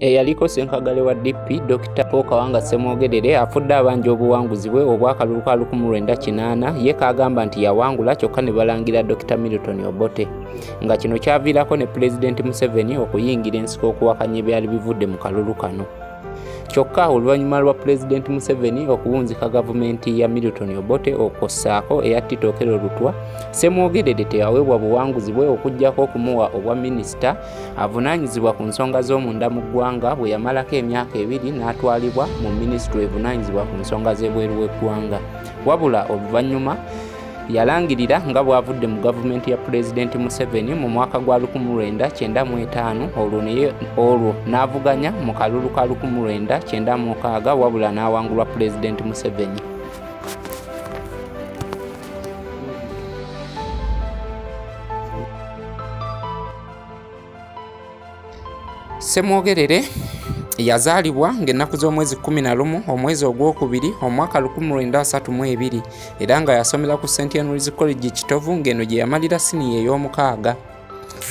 eyaliko senkagale wa DP Dr Paul Kawanga Ssemwogerere afudde abanja obuwanguzi bwe obw'akalulu ka lukumu lwenda kinaana ye kaagamba nti yawangula kyokka ne balangira Dr Milton Obote nga kino kyaviirako ne Pulezidenti Museveni okuyingira ensiko okuwakanya ebyali bivudde mu kalulu kano kyokka oluvannyuma lwa pulezidenti museveni okuwunzika gavumenti ya milton obote okwo ssaako eya titokero lutwa semwogerere teyaweebwa buwanguzi bwe okugyako okumuwa obwa minisita avunaanyizibwa ku nsonga z'omunda mu ggwanga bwe yamalako emyaka ebiri n'atwalibwa mu minisitule evunaanyizibwa ku nsonga z'ebweru w'eggwanga wabula oluvannyuma yalangirira nga bw'avudde mu gavumenti ya pulezidenti museveni mu mwaka gwa 1995 olwo olwo n'avuganya mu kalulu ka 1996 wabula n'awangulwa pulezidenti museveni Ssemwogerere yazaalibwa ng'ennaku z'omwezi 11 omwezi ogwokubiri omwaka 1932 era nga yasomera ku St Henry's College Kitovu ng'eno gye yamalira siniya ey'omukaaga.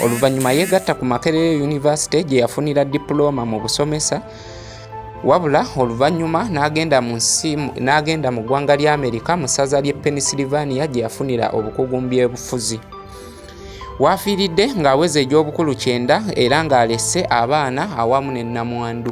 Oluvannyuma yeegatta ku Makerere University gye yafunira dipulooma mu busomesa wabula oluvannyuma n'agenda mu nsi n'agenda mu ggwanga lya Amerika mu ssaza ly'e Pennsylvania gye yafunira obukugu mu by'obufuzi. waafiiridde ng'aweza egy'obukulu kyenda era ng'alese abaana awamu ne nnamwandu